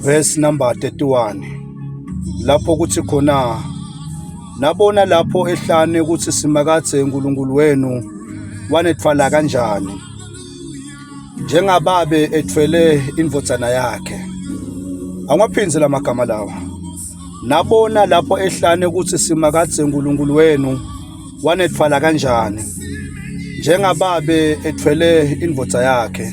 verse number 31 lapho kuthi khona nabona lapho ehlane ukuthi simakadze uNkulunkulu wenu wanethwala kanjani njengababe ethwele indvodzana yakhe angiwaphindze lamagama lawa nabona lapho ehlane ukuthi simakadze uNkulunkulu wenu wanethwala kanjani njengababe ethwele indvodza yakhe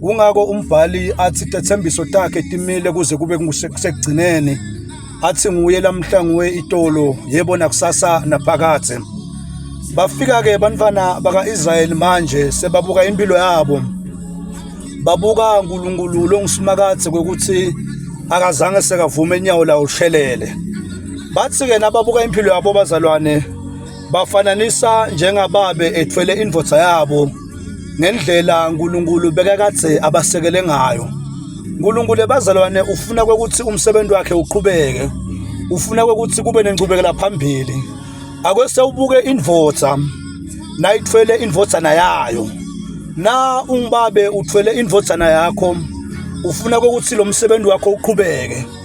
Kungako umbhali athi tethembiso takhe timile kuze kube kusekugcineni. Athi nguye lamhla nguwe itolo yebo nakusasa naphakade. Bafika ke bantwana bakaIsrael manje sebabuka impilo yabo. Babuka uNkulunkulu longusimakade kokuthi akazange sekavume inyawo lawo shelele. Bathi ke nababuka impilo yabo bazalwane bafananisa njengababe ethwele indvodza yabo ngendlela uNkulunkulu bekakadze abasekele ngayo. uNkulunkulu ebazalwane ufuna ukuthi umsebenzi wakhe uqhubeke. Ufuna ukuthi kube nenqubekela phambili. Ake sewubuke indvodza nayithwele indvodzana yayo. Na ungibabe uthwele indvodzana yakho ufuna ukuthi lo msebenzi wakho uqhubeke.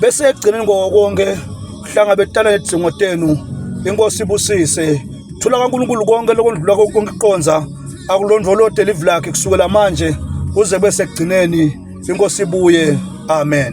bese ekugcineni kokonke hlanga betana nedzingo tenu inkosi ibusise thula kaNkulunkulu konke lokondlula konke iqonza akulondvolode live lakhe kusukela manje kuze bese ekugcineni inkosi ibuye amen